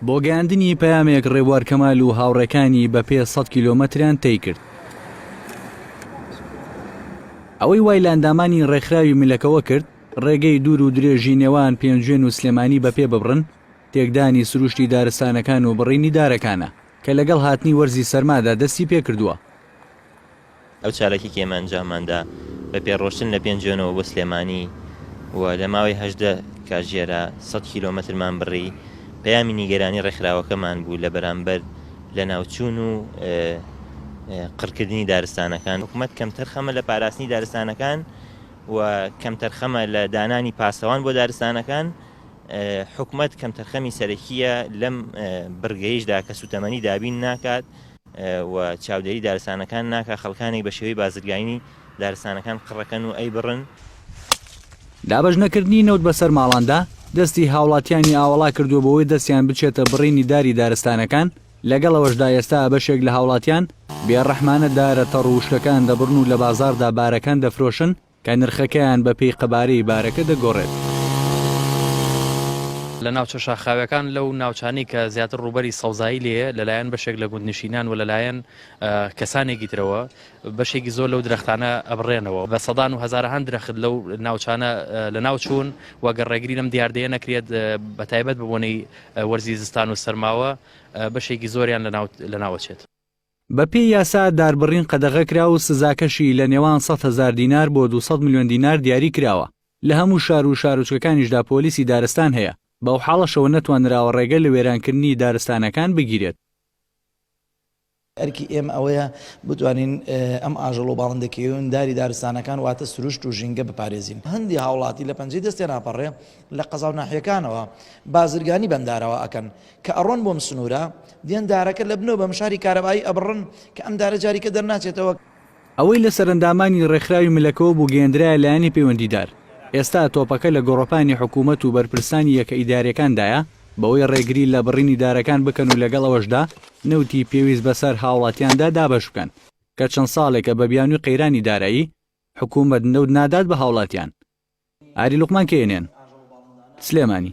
بۆ گەیاندنی پەیامێک ڕێبوار کەمال و هاوڕێکانی بە پێ سەد کیلۆمەتریان تەی کرد ئەوەی وای لە ئەندامانی ڕێکخراوی ملەکەوە کرد ڕێگەی دوور و درێژی نێوان پێنجوێن و سلێمانی بە پێ ببڕن تێکدانی سروشتی دارستانەکان و بڕینی دارەکانە کە لەگەڵ هاتنی وەرزی سەرمادا دەستی پێکردووە ئەو چالاکیەی کە ئێمە ئەنجاممان دا بە پێڕۆشتن لە پێنجۆنەوە بۆ سلێمانی و لە ماوەی هەژدە کاژێرا سەد کیلۆمەترمان بڕی، پەیامی نیگەرانی ڕێکخراوەکەمان بوو لە بەرامبەر لەناوچوون و قڕکردنی دارستانەکان. حکومەت کەمتەرخەمە لە پاراستنی دارستانەکان و کەمتەرخەمە لە دانانی پاسەوان بۆ دارستانەکان، حکومەت کەمتەرخەمی سەرەکییە لەم بڕگەیشدا کە سووتەمەنی دابین ناکات، و چاودێری دارستانەکان ناکا خەڵکانێک بە شێوەی بازرگاینی دارستانەکان قڕەکەن و ئەیبڕن. دابەش نەکردنی نەوت بە سەر ماڵاندا، دەستی هاوڵاتیانی ئاوەڵا کردووە بۆوەی دەستیان بچێتە بڕینی داری دارستانەکان، لەگەڵ ئەوەشدا ئێستا بەشێک لە هاوڵاتیان بێ ڕەحمانە دارە تەڕ و وشکەکان دەبڕن و لە بازاڕدا بارەکان دەفرۆشن، کە نرخەکەیان بە پێی قەبارەی بارەکە دەگۆڕێت. لە ناوچە شاخاویەکان لەو ناوچانەی کە زیاتر ڕووبەری سەوزایی لێیە لەلایەن بەشێک لە گوندنشینان و لەلایەن کەسانێکی ترەوە بەشێکی زۆر لەو درەختانە ئەبڕێنەوە بە سەدان و هەزارەهان درەخت لەو ناوچانە لە ناو چوون وەگەر ڕێگری لەم دیاردەیە نەکرێت بە تایبەت ببوونەی وەرزی زستان و سەرماوە بەشێکی زۆریان لە ناوەچێت. بە پێی یاسا داربڕین قەدەغە کرا و سزاکەشی لە نێوان سەد هەزار دینار بۆ دوو سەد ملیۆن دینار دیاری کراوە. لە هەموو شار و شارۆچکەکانیشدا پۆلیسی دارستان هەیە، بەوحاڵەشەوە نەتوانراوە ڕێگە لە وێرانکردنی دارستانەکان بگیرێت. ئەرکی ئێمە ئەوەیە بتوانین ئەم ئاژەڵ و باڵندە کێوێنداری دارستانەکان واتە سروشت و ژینگە بپارێزین. هەندی هاوڵاتی لە پەنجەی دەستێناپەڕێ لە قەزاو ناحیەکانەوە بازرگانی بەم دارەوە ئەکەن کە ئەڕۆن بۆم سنورە دێن دارەکە لە بنەو بەم شاری کارەبایی ئەبڕن کە ئەم دارە جاریکە دەرناچێتەوە. ئەوەی لە سەرەندامانی ڕێکخراوی ملەکەوە بوو گەیەندرایە لایەنی پەیوەندیدار، ئێستا تۆپەکە لە گۆڕەپانی حکوومەت و بەرپرسانی یەکە ئیدارییەکاندایە بەوەی ڕێگری لە بڕینی دارەکان بکەن و لەگەڵ ئەوەشدا نەوتی پێویست بەسەر هاوڵاتیاندا دابەش بکەن کە چەند ساڵێکە بە بیانووی قەیرانی دارایی حکوومەت نەوت نادات بە هاوڵاتیان. ئاری لوقمان کەیەنێن. سلێمانی.